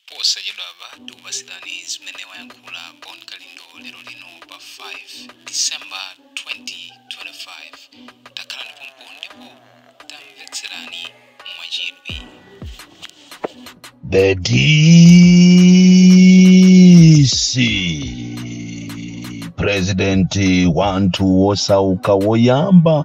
Posachedwapa tikupatsirani zimene wayankhula Bon Kalindo lero lino pa 5 December 2025. Takhalani pompo ndipo tamvetserani mwachidwi. The DC President wanthu wosauka woyamba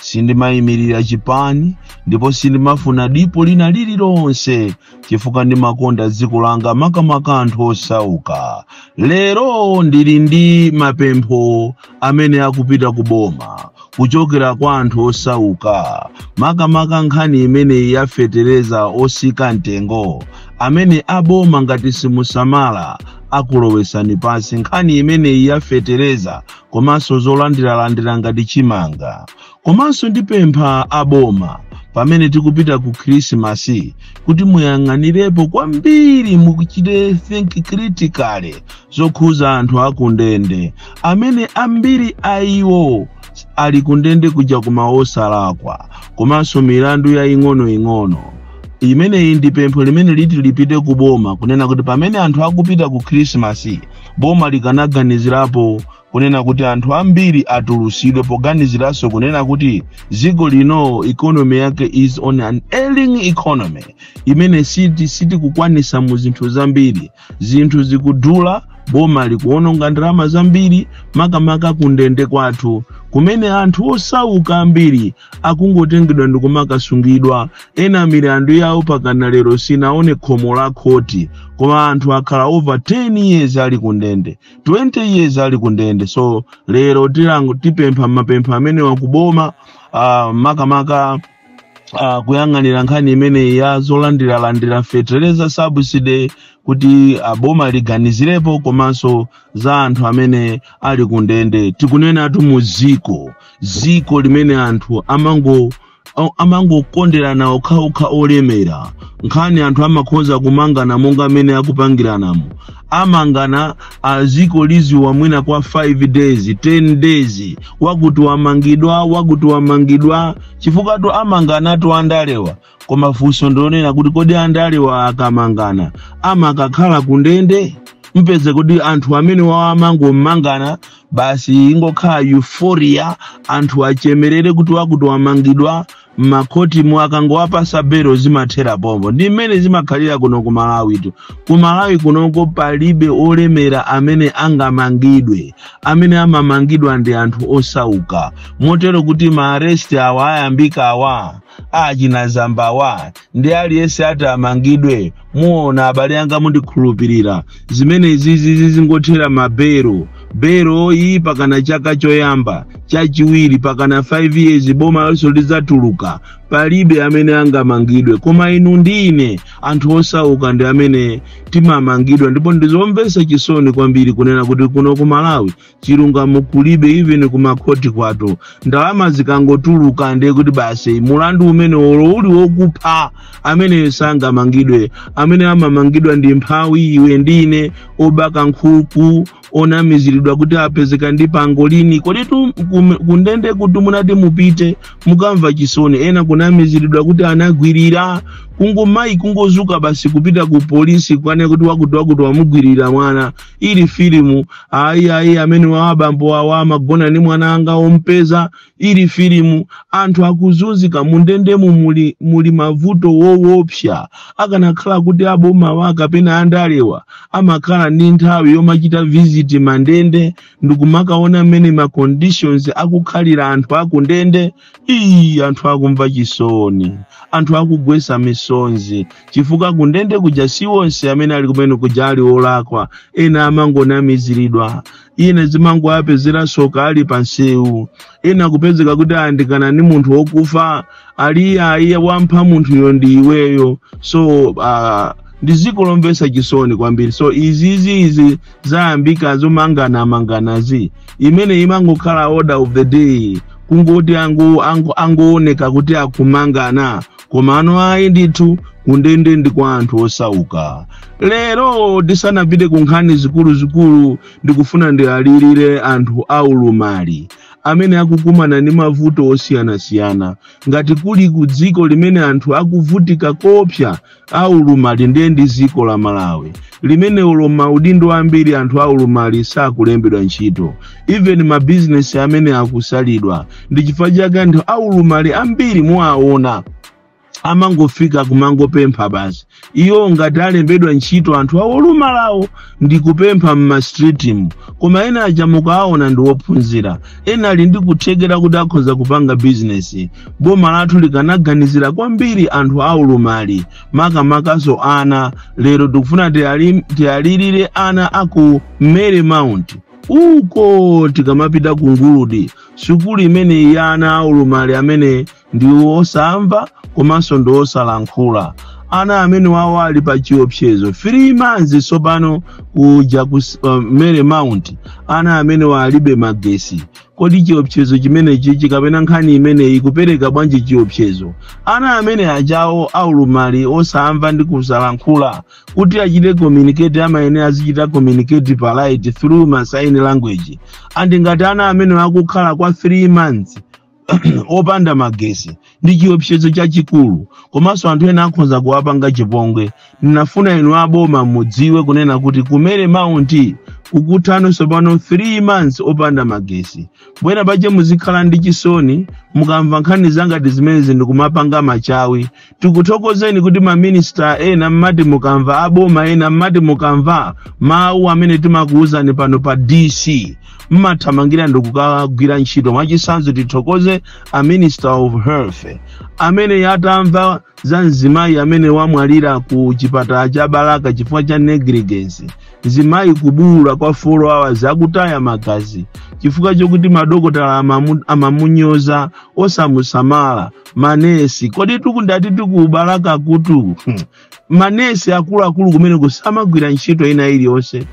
sindimayimirira chipani ndipo sindimafuna dipo lina lililonse chifukwa ndimakonda dziko langa makamaka anthu osauka lero ndili ndi mapempho amene akupita ku boma kuchokera kwa anthu osauka makamaka nkhani imeneyi yafetereza osika mtengo imene aboma ngati simusamala akulowesani pansi nkhani imeneyi yafetereza komanso zolandiralandira ngati chimanga komanso ndipempha aboma pamene tikupita ku khrisimasi kuti muyang'anirepo kwambiri mukachite think critically zokhuza anthu akundende amene ambiri a iwo ali kundende kuja koma osalakwa komanso milandu yaing'onoing'ono limeneli ndi pempho limene liti lipite ku boma kunena kuti pamene anthu akupita ku khrisimasi boma likanaganizirapo kunena kuti anthu ambiri atulusidwe poganiziranso kunena kuti dziko lino economy yake is an ailing economy imene siti sitikukwanisa mu zinthu zambiri zinthu zikudula boma likuononga ndalama zambiri makamaka kundende kwathu kumene anthu osauka ambiri akungotengedwa ndikumakasungidwa Ena milandu yawo pakana lero sinaone khomo la khoti koma anthu akhala over 10 years ali kundende 20 years ali kundende so lero tipempha mapempho amenewa kuboma uh, makamaka uh, kuyang'anira nkhani imeneyi ya zolandiralandira fetereza subsidy kuti boma liganizirepo komanso za anthu amene ali kundende tikunenatu mu ziko dziko limene anthu amango Au- amangokonderana okhaokha olemera nkhani anthu amakhoza kumangana monga mmene akupangiranamo amangana dziko liziwa mwina kwa 5 days 10 days wakuti wamangidwa wakuti wamangidwa chifukwatu amanganatu andalewa koma funso ndi lonena kuti kodi andalewa akamangana amakakhala kundende mpeze kuti anthu amene wawa amangomangana basi ingokhala euphoria anthu achemerere kuti wakuti wamangidwa m'makhotimu akangowapasa belo zimathera pompo ndi mmene zimakhalira kuno ku malawitu ku malawi kunoko palibe olemera amene angamangidwe amene amamangidwa ndi anthu osauka motero kuti maaresti awa ayambika awa achina zambawa ndi aliyense ati amangidwe muona abale anga mundikhulupirira zimene izi zi zizingothera mabelo belo iyi pakana chaka choyamba chachiwiri pakana 5 years boma lonse lidzatuluka palibe amene angamangidwe koma inu ndi ine anthu osauka ndi amene timamangidwa ndipo ndizomvetsa chisoni kwambiri kunena kuti kuno ku malawi chilungamo kulibe even kumakhoti kwathu ndalama zikangotuluka ndiye kuti basi mulandu umene olo uli wokupha amene sangamangidwe amene amamangidwa ndi mphawi iwe ndi ine obaka nkhuku onamiziridwa kuti apezeka ndi pangolini kodi tu kum- kundende kuti munati mupite mukamva chisoni ena kunamiziridwa kuti anagwirira kungomayi kungodzuka basi kupita ku polisi kukanena kuti wakuti wakuti wamugwirira mwana ili filimu ayi ayi ameneawa abambo awa amagona ndi mwana anga ompeza ili filimu anthu akuzunzika mundendemu muli, muli mavuto wowopsa akanakhala kuti abomawa kapena andalewa amakhala ndi nthawi yomachita visit mandende ndikumakaona mmene ma conditions akukhalira anthu akundende iyi anthu akumvetsa chisoni anthu akugwesa misonzi chifukwa kundende kuja si onse amene ali kumene kuja ali olakwa ena amangonamiziridwa ena zimangowapezera tsoka ali pansewu ena kupezeka kuti ayandikana ni munthu wokufa ali iye ayi iye wampha munthuyo ndi iweyo so uh, ndi dziko lomvetsa chisoni kwambiri so izizi izi zayambika zomangana manganazi imene imangokhala order of the day kungoti ango ango angooneka kuti akumangana koma ono ayi ndithu kundende ndi kwa anthu osauka lero tisanapite ku nkhani zikuluzikulu ndikufuna ndiwalirire anthu aulumali amene akukumana ndi mavuto osiyanasiyana ngati kuli ku dziko limene anthu akuvutika koopsa a ulumali ndiye ndi dziko la malawi limene olo m'maudindo ambiri anthu a ulumali sakulembedwa ntchito even mabizinesi amene akusalidwa ndi chifukwa chake anthu a ulumali ambiri muwaona amangofika kumangopempha basi iwo ngati alembedwa ntchito anthu aulumaliwo ndi kupempha m'mastritimu koma ena aja mukawaona ndi wophunzira ena ali ndi kuthekera kuti akhoza kupanga bizinesi boma lathu likanaganizira kwambiri anthu aulumali makamakaso ana lero tikufuna tiwali- tiwalirire ana aku mary mount uko tikamapita ku nguludi sukulu imeneyi ya ana aulumali amene ndi wosamva komanso ndi wosalankhula ana amene wawo ali pa chiopsezo 3 months tsopano kuja ku s- uh, mary mount ana amene walibe magesi kodi chiopsezo chimenechi chikapena nkhani imeneyi ikupereka bwanji chiopsezo ana amene ajawo aulumali osamva ndi kusalankhula kuti achite communicate amayenera azichita communicate pa light through ma sign language and ngati ana amene akukhala kwa 3 months opanda magesi ndi chiopsezo chachikulu komanso anthu ena akhoza kuwapanga chipongwe ndinafuna inu aboma mudziwe kunena kuti ku mary mount kukutha tsopano 3 months opanda magesi bwera pache muzikhala ndi chisoni mukamva nkhani za ngati zimenezi ndikumapanga machawi tikuthokozeni kuti maminista ena mmati mukamva aboma ena mmati mukamva mawu amene timakuwuzani pano pa dc mmathamangira ndikukagwira ntchito mwachitsanzo tithokoze a minister of health amene yatamva za mzimayi amene wamwalira ku chipatala cha balaka chifukwa cha negligence mzimayi kubuwula kwa 4 hours akutaya magazi chifukwa chokuti madokotala amamu- amamunyoza osamusamala manesi kodi tikunenatu ku balaka kutu Hmm. manesi akuluakulu kumene kusamagwira ntchito ina iliyonse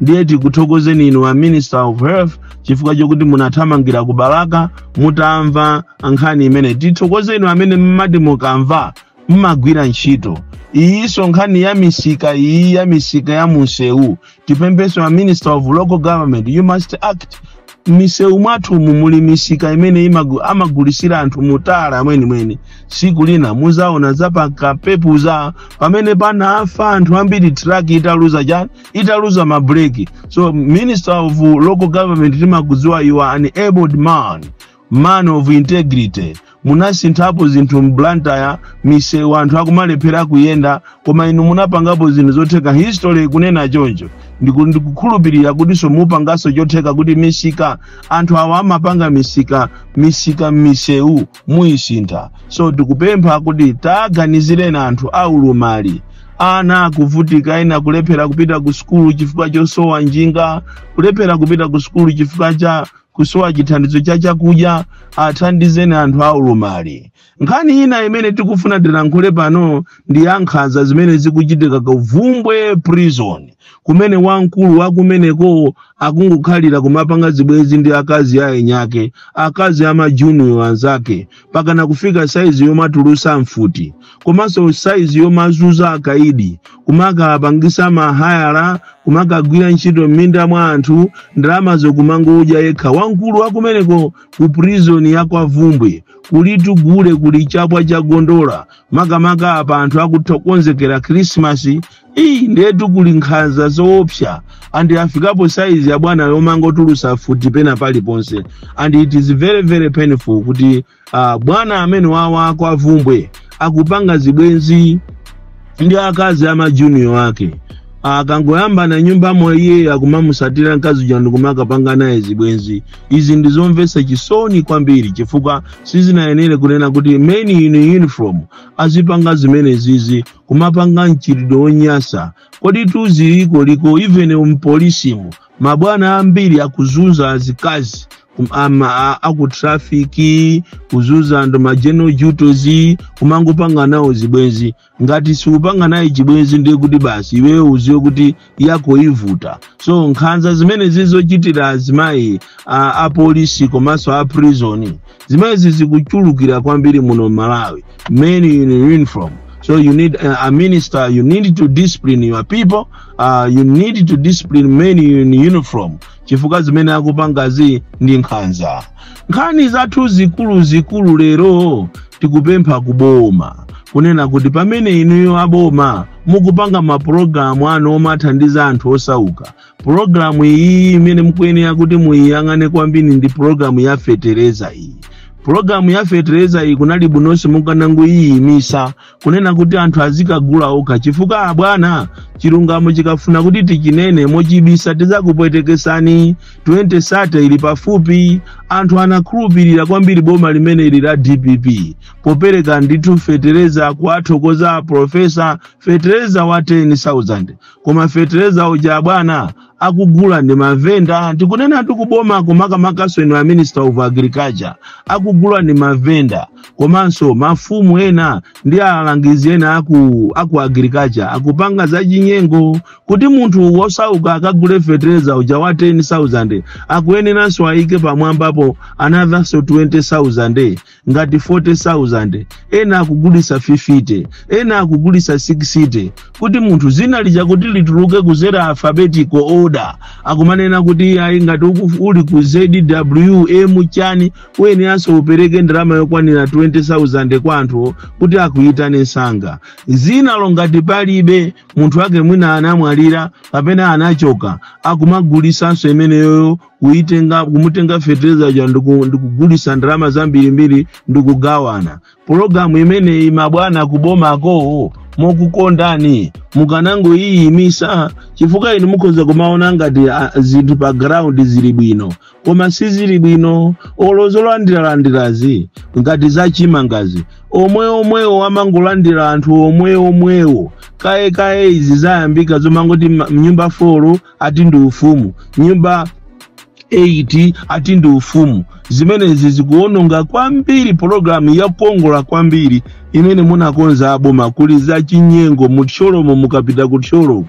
ndiye tikuthokozeni inu a minister of health chifukwa chokuti munathamangira ku balaka mutamva nkhani imene tithokoze inu amene mmati mukamva mmagwira ntchito iyinso nkhani ya misika iyi ya misika ya munsewu tipempheso a minister of local government you must act m'misewu mwathumu muli misika imene imagu- amagulisira anthu mu tala mwenimweni tsiku lina muzaona za pa kampepuza pamene panafa anthu ambiri traki italuza chani italuza mabreki so minister of local government timakudziwa you are an abled man man of integrity munasinthapo zinthu mblantyre misewu anthu akumalephera kuyenda koma inu munapangapo zinthu zotheka history ikunena choncho Ndiku- ndikukhulupirira kutinso mupanganso chotheka kuti misika anthu awa amapanga misika misika m'misewu muyisintha so tikupempha kuti taganizireni anthu aulumali ana akuvutika ena akulephera kupita ku sukulu chifukwa chosowa njinga kulephera kupita ku sukulu chifukwa cha kusowa chithandizo cha chakudya athandizeni anthu a ulumali nkhani ina imene tikufuna tilankhule pano ndi ya nkhanza zimene zikuchitika ku bvumbwe prison kumene wamkulu wakumeneko akungokhalira kumapanga zibwenzi ndi akazi a eniake akazi a majuniyo anzake mpakana kufika saizi yomatulusa mfuti komanso saizi yomazuza akaidi kumakapangisa mahayala kumakagwira ntchito m'minda mwa anthu ndalamazo kumangodya yekha wamkulu wakumeneko ku prison ya kwa vumbwe kulitu gule kuli chapwa cha gondola makamaka apa anthu akuthokonzekera khrisimasi iyi ndetu kuli nkhanza zoopsa andi afikapo saizi ya bwana yomangotulusa futi pena paliponse and it is very very painful kuti ah, bwana amene awa a kwa vumbwe akupanga zibwenzi ndi akazi ama junior ake akangoyambana nyumba mwa iye akumamusatira mkazi uja ndikumakapanga naye zibwenzi izi ndizomvetsa chisoni kwambiri chifukwa sizinayenere kunena kuti men in uniform azipanga zimenezizi kumapanga mchitidwe wonyasa kodi izi ziliko even mpolisimu mabwana ambiri akuzunza azikazi kum- ama- a- aku traffic kuzunza anthu mageneral duties kumangopanga nawo zibwenzi ngati siupanga naye chibwenzi ndiye kuti basi iweyo uziwe kuti yako ivuta so nkhanza zimenezi zochitira azimayi a- apolisi komanso a prison zimenezi zikuchulukira kwambiri muno malawi men in uniform so you need uh, a minister you need to discipline your people uh, you need to discipline men in uniform chifukwa zimene akupangazi ndi nkhanza nkhani zathu zikuluzikulu lero tikupempha kuboma kunena kuti pamene inuyo aboma mukupanga mapulogalamu anu omathandiza anthu osauka Programu iyi imene mukuyenera kuti muyiyang'ane kwambiri ndi programu ya fetereza iyi programu ya fetereza iyi kunali bwinonso mukanangoyiyimisa kunena kuti anthu azikagula okha chifukwa abwana chilungamo chikafuna kuti tichinene mochibisa tizakupwetekesani 2030 ili pafupi anthu anakhulupirira kwambiri boma limene ili la dpp popereka ndithu fetereza kuwathokoza aprofesa fetereza wa 10000 koma fetereza uja bwana akugula ndi mavenda tikunena ndithu kubomako makamakanso inu a minister of agriculture akugula ndi mavenda komanso mafumu ena ndi alangizi ena aku, aku agriculture akupanga zachinyengo kuti munthu wosauka akagule fetereza uja wa 10000 akuyeneranso ayike pamwambapo anotherso 20000 ngati 40,000 ena akugulisa 50 ena akugulisa 60 kuti munthu zina lija kuti lituluke kuzera alphabetical order akumanena kuti ayi ngati uku- uli ku zwm chani uyeneranso upereke ndalama yokwanira 20,000 kwa anthu kuti akuyitane msanga zinalo ngati palibe munthu wake mwina anamwalira kapena anachoka akumagulisanso imeneyoyo kuitenga kumutenga fetereza uja ndiku- ndikugulisa ndalama zambirimbiri ndikugawana pologalamu imeneyi mabwana kubomako mokukondani mukanangoyiyimisa chifukwa inu mukhoza kumaona ngati ah, zinthu pa ground zili bwino koma sizili bwino olo zolandiralandirazi ngati zachimangazi omwe omwewo amangolandira anthu omwe omwewo kaye kaye izi zayambika zomangoti ma- mnyumba 4 ati ndi ufumu nyumba 8 ati ndi ufumu zimenezi zikuononga kwambiri pologalamu yakongola kwambiri imene munakonza aboma kuli za chinyengo mu thyolomo mukapita ku thyolomo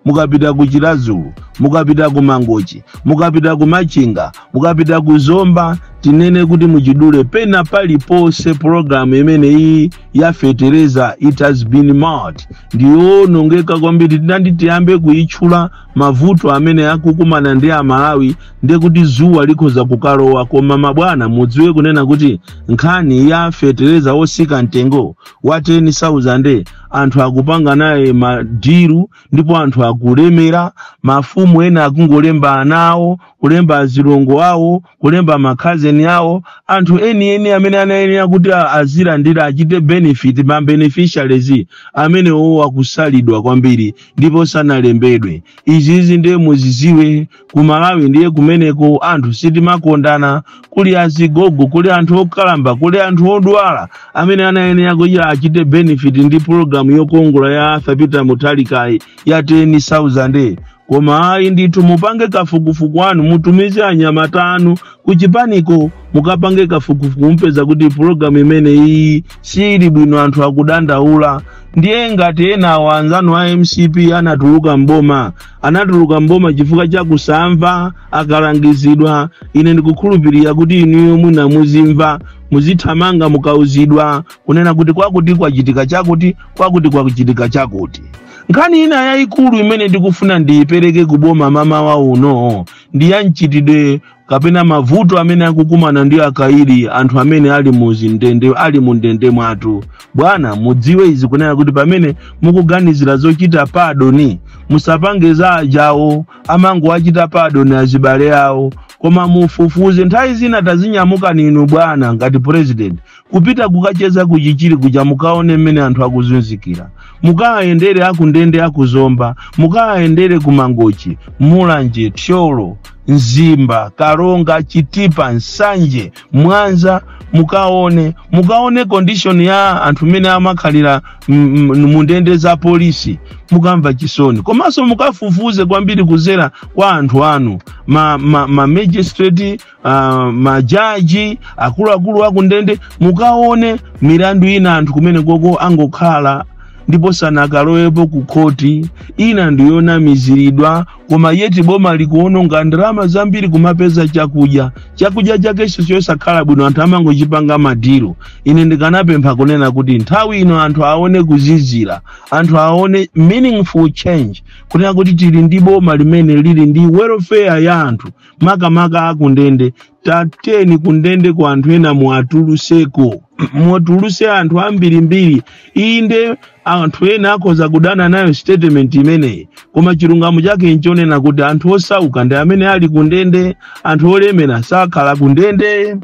mukapita ku chiradzulu mukapita ku mangochi mukapita ku machinga mukapita ku zomba tinene kuti muchidule pena paliponse pologalamu imene iyi yafetereza it has been marred ndiyoonongeka kwambiri tinati tiyambe kuyitchula mavuto amene akukumana ndi amalawi ndiye kuti dzuwa likhoza kukalowa koma mabwana mudziwe kunena kuti nkhani ya fetereza wotsika mtengo wa 10000 anthu akupanga naye madilu ndipo anthu akulemera mafumu ena akungolemba ana awo kulemba azilongo awo kulemba makhazeni awo anthu enieni amene anayenera kuti a- azilandira achite benefit ma beneficiaries amenewo akusalidwa kwambiri ndipo sanalembedwe izizi ndiye muzidziwe ku malawi ndiye kumeneko anthu sitimakondana kuli azigogo kuli anthu okalamba kuli anthu odwala amene anayenera kuti achite benefit ndi pulogalamu yokongola ya arthur peter mutharikayi ya 10000 koma ayi ndithu mupange kafukufuku wanu mutumize anyamata anu kuchipaniko mukapange kafukufuku mupeza kuti pulogalamu imene iyi siili bwino anthu akudandaula ndiye ngati enawo anzanu a mcp anatuluka m'boma anatuluka m'boma chifukwa cha kusamva akalangizidwa ine ndikukhulupirira kuti inuyo mwina muzimva muzithamanga mukauzidwa kunena kuti kwakuti kwachitika chakuti kwakuti kwachitika chakuti nkhani ina yayikulu imene ndikufuna ndiyipereke ku boma mmawa uno ndi ya mchitidwe kapena mavuto amene akukumana ndi akaidi anthu amene ali mu zindende ali mu ndende mwathu bwana mudziwe izi kunena kuti pamene mukuganizira zochita padoni musapange za ajawo amangowachita padoni azibale awo koma mufufuze nthawi zina tadzinyamukani inu bwana ngati president kupita kukacheza ku chichiri kuja mukaone mmene anthu akuzunzikira mukayendere akundende aku Zomba mukayendere ku mangochi mulanje thyolo mzimba karonga chitipa nsanje mwanza mukaone mukaone condition ya anthu mmene amakhalira m- m- mundende za polisi mukamva chisoni komanso mukafufuze kwambiri kuzera kwa anthu anu ma, ma, ma magistrate uh, majaji akuluakulu akundende mukaone milandu ina anthu kumene koko angokhala ndipo sanakalowepo ku khoti ina ndi yonamiziridwa koma yeti boma likuononga ndalama zambiri kumapeza chakudya chakudya chakenso chosakhala bwino anthu amangochipanga madilu ine ndikanapempha kunena kuti nthawi ino anthu aone kuzizira anthu aone meaningful change kunena kuti tili ndi boma limene lili ndi welfare ya anthu makamaka akundende tateni kundende kwa anthu ena muwatuluseko muwatuluse anthu ambirimbiri inde anthu ena akhoza kudana nayo statement imeneyi koma chilungamo chake nchonena kuti anthu osauka ndi amene ali kundende anthu olemera sakhala kundende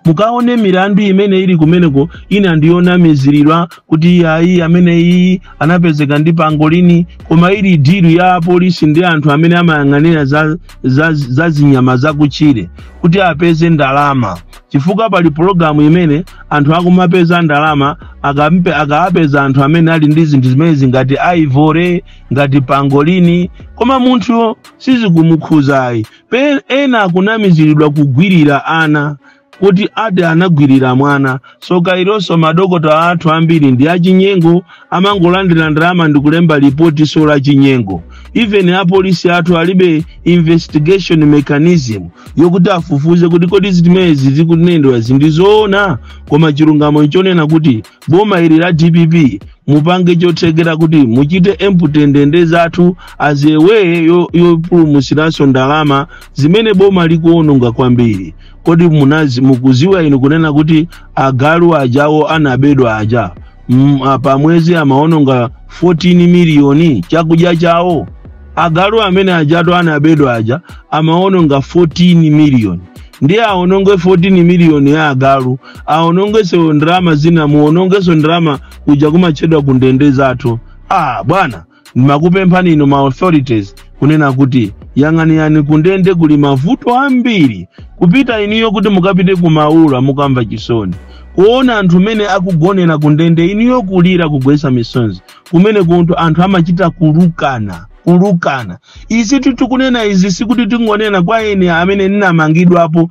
mukaone milandu imene ili kumeneko ina ndi yonamiziridwa kuti iyayi amene iyi anapezeka ndi pangolini koma ili dilu ya apolisi ndi anthu amene amayang'anira za, za, za zinyama zakutchire kuti apeze ndalama chifukwa pali pologalamu imene anthu akumapeza ndalama akampe akawapeza anthu amene ali ndi zinthu zimenezi ngati ivory ngati pangolini koma munthuyo sizikumukhuzayi Pe- ena akunamiziridwa kugwirira ana kuti ati anagwirira mwana soka ilonso madokota athu ambiri ndi achinyengo amangolandira ndalama ndi kulemba lipotiso la chinyengo even apolisi athu alibe investigation mechanism yokuti afufuze kuti kodi zimenezi zikunenedwazi ndi zoona koma chilungamo nchonena kuti boma ili la dpp mupange chothekera kuti muchite empty ndende zathu as a way yo- yopulumusiranso ndalama zimene boma likuononga kwambiri kodi munazi mukuziwa inu kunena kuti agalu ajawo anabedwa aja mm, a- pamwezi amaononga 14 miliyoni chakudya chawo agalu amene ajatu anabedwa aja amaononga 14 miliyoni ndiye aononge 14 miliyoni ya agalu aonongeso ndalama zina muonongeso ndalama kuja kumatchedwa ku ndende zathu ah bwana ndimakupemphani inu ma authorities kunena kuti yang'aniyani kundende kuli mavuto ambiri kupita inuyo kuti mukapite ku maula mukamva chisoni kuona anthu mene akugonera kundende inuyo kulira kugwesa misonzi kumene kunja anthu amachita kulukana kulukana izi tikunena izi sikuti tingonena kwa ine amene ndinamangidwapo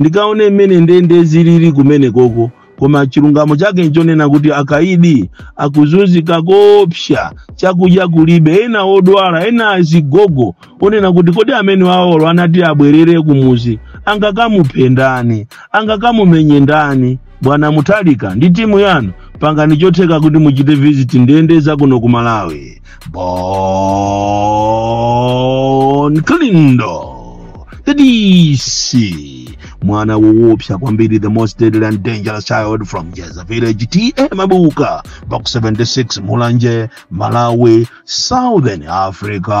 Ndikaone mmene ndende zilili kumenekoko. Koma chilungamo chake nchonena kuti akaidi akuzunzika koopsya, chakudya kulibe, ena odwala, ena azigogo, onena kuti kodi amene awowo anati abwerere kumuzi angakamuphe ndani? Angakamumenye ndani? Bwana Mutharika ndi timu yanu, pangani chotheka kuti muchite visit ndende za kuno ku Malawi. bon clindo the dc mwana woopsa kwambiri the most deadly and dangerous child from jeza village ta mabuka box 76 mulanje malawi southern africa